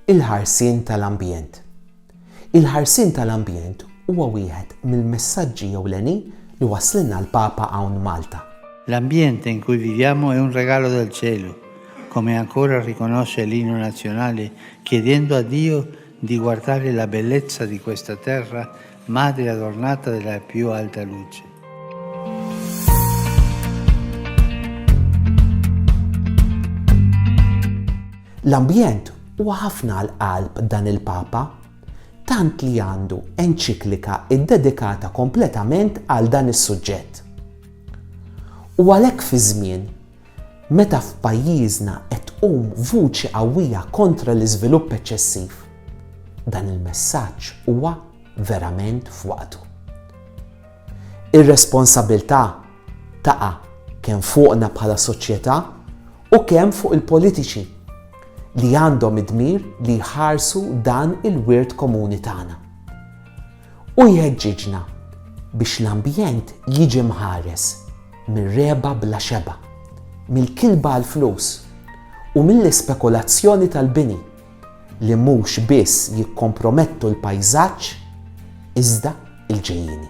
Il-ħarsien tal-ambjent. Il-ħarsien tal-ambjent huwa wieħed mill-messaġġi ewlenin li wasslilna l-Papa hawn Malta. L'ambiente in cui viviamo è un regalo del cielo, come ancora riconosce l'Inno Nazionale chiedendo a Dio di guardare la bellezza di questa terra Madre adornata della più alta luce. L-ambjent huwa ħafna għal qalb dan il-Papa, tant li għandu enċiklika ddedikata kompletament għal dan is-suġġett. U għalhekk fi żmien Meta f'pajjiżna qed tqum vuċi qawwija kontra l-iżvilupp eċċessiv, dan il-messaġġ huwa verament f'waqtu. Ir-responsabilità taqa' kemm fuqna bħala soċjetà u kemm fuq il-politiċi li għandhom id-dmir li jħarsu dan il-wirt komuni tagħna. u jħeġġiġna biex l-ambjent jiġi mħares mir-regħba bla xebgħa, mill-kilba għall-flus u mill-ispekulazzjoni tal-bini li mhux biss jikkompromettu l-pajżaġġ iżda l-ġejjieni.